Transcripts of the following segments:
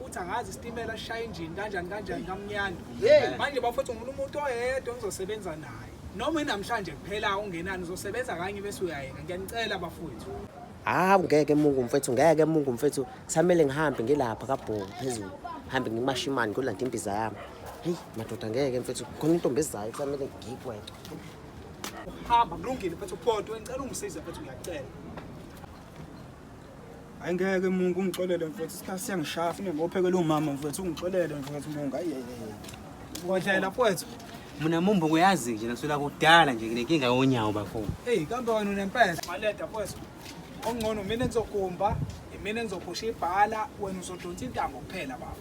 uthi angazi isitimela sishaya injini kanjani kanjani kamnyanda manje bafowethu ngifuna umuntu oyedwa engizosebenza naye noma inamhlanje kuphela ungenani uzosebenza kanye bese uyayeka ngiyanicela bafowethu hawu ngeke mungu mfethu ngeke mungu mfethu kusamele ngihambe ngilapha kabhongo phezulu hambe ngimashe imali ngolanda imbiza yami heyi madoda ngeke mfethu khona intombi ezayo kusamele ngigweqe hamba kulungile mfethu kodwa ngicela ungisize mfethu ngiyacela Ayingeke mungu ungixolele mfowethu isikhathi siyangishaya fune ngophekela umama mfowethu ungixolele mfowethu mungu ayeye. Kodlela mfowethu. Mina mumbo kuyazi nje naswela kudala nje nginenkinga yonyawo bafo. Hey kambe wena unempela maleda mfowethu. Ongcono mina ngizogumba mina ngizogusha ibhala wena uzodonsa intambo kuphela baba.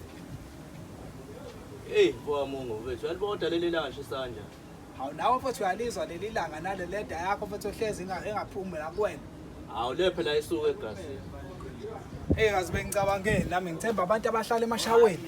Hey mfowethu mungu mfowethu yalibona leli langa shisanja. Hawu nawe mfowethu uyalizwa leli langa nale leda yakho mfowethu ohlezi inga- engaphumi la kuwena. Hawu le phela isuke egasini. Ey kazi bengicabangeni nami ngithemba abantu abahlala emashaweni.